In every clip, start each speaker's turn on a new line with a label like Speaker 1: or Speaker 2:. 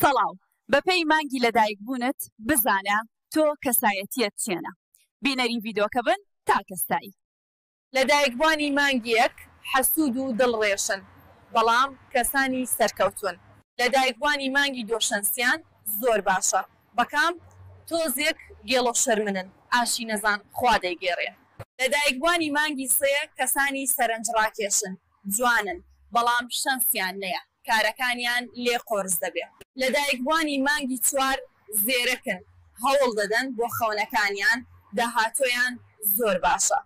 Speaker 1: سڵاو، بەپێی مانگی لەدایکبوونت بزانە تۆ کەسایەتیت چێنە. بینەری ڤیدۆکە بن تا کەسایی. لەدایکبوانی مانگی یەک حەسوود و دڵ ڕێشن بەڵام کەسانی سەرکەوتوون. لەدایکبوانی مانگی دۆشەنسیان زۆر باشە بەکام؟ تۆزێک گێڵۆ شەرمنن ئاشی نەزان خوا دەیگێڕێ. لەدایکبوانی مانگی سێ کەسانی سەرەنج ڕاکێشن. جوانن بەڵام شەنسیان نەیە کارەکانیان لێ قۆرس دەبێ. لە دایکبوانی مانگی چوار زێرەکن هەوڵ دەدەن بۆ خەونەکانیان داهاتۆیان زۆر باشە.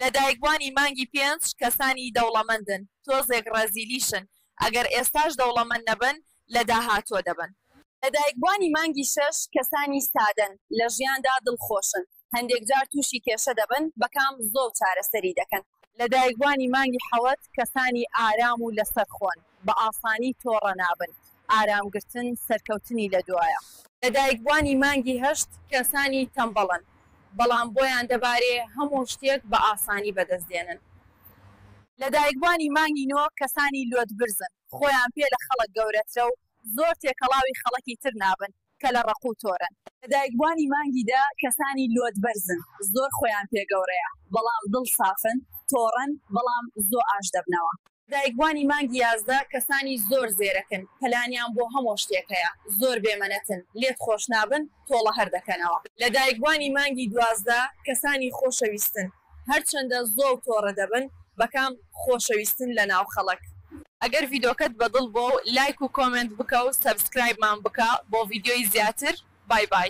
Speaker 1: لە دایکبوانی مانگی پێنج کەسانی دەوڵەمەندن تۆزێک ڕەزیلیشن ئەگەر ئێستاش دەوڵەمەند نەبن لە داهاتۆ دەبن. لە دایکبوانی مانگی شەش کەسانی سادەن لە ژیاندا دڵخۆشن هەندێک جار تووشی کێشە دەبن، بە کام زۆڵ چارەسەری دەکەن؟ لەدایکبوانی مانگی حەوت کەسانی ئارام و لەسەرخۆن، بە ئاسانی تۆڕە نابن، ئارام گرتن سەرکەوتنی لە دوایە. لەدایکبوانی مانگی هەشت کەسانی تەمبەڵن، بەڵام بۆیان دەبارێ هەموو شتێک بە ئاسانی بەدەست دێنن. لەدایکبوانی مانگی نۆ کەسانی لۆتبرزن، خۆیان پێ لە خەڵک گەورەترە و زۆر تێکەڵاوی خەڵکی تر نابن کە لە ڕەق و تۆرن. لە دایکبوانی مانگی دە کەسانی لۆت بەرزن، زۆر خۆیان پێ گەورەیە بەڵام دڵ سافن، تۆڕن بەڵام زۆ ئاش دەبنەوە. دایکبوانی مانگی یازدە کەسانی زۆر زێرەکن، پلانیان بۆ هەمۆ شتێک هەیە، زۆر بێ مەنەتن، لێت خۆش نابن، تۆڵە هەر دەکەنەوە. لەدایکبوانی مانگی دوازدە کەسانی خۆشەویستن هەرچەندە زۆڵ تۆرە دەبن بەکام خۆشەویستن لەناو خەڵک. ئەگەر ڤیدۆکەت بەدڵ بۆ و لایک و کۆمێنت بکە و سەبسکرایبمان بکە بۆ ڤیدیۆی زیاتر بای بای.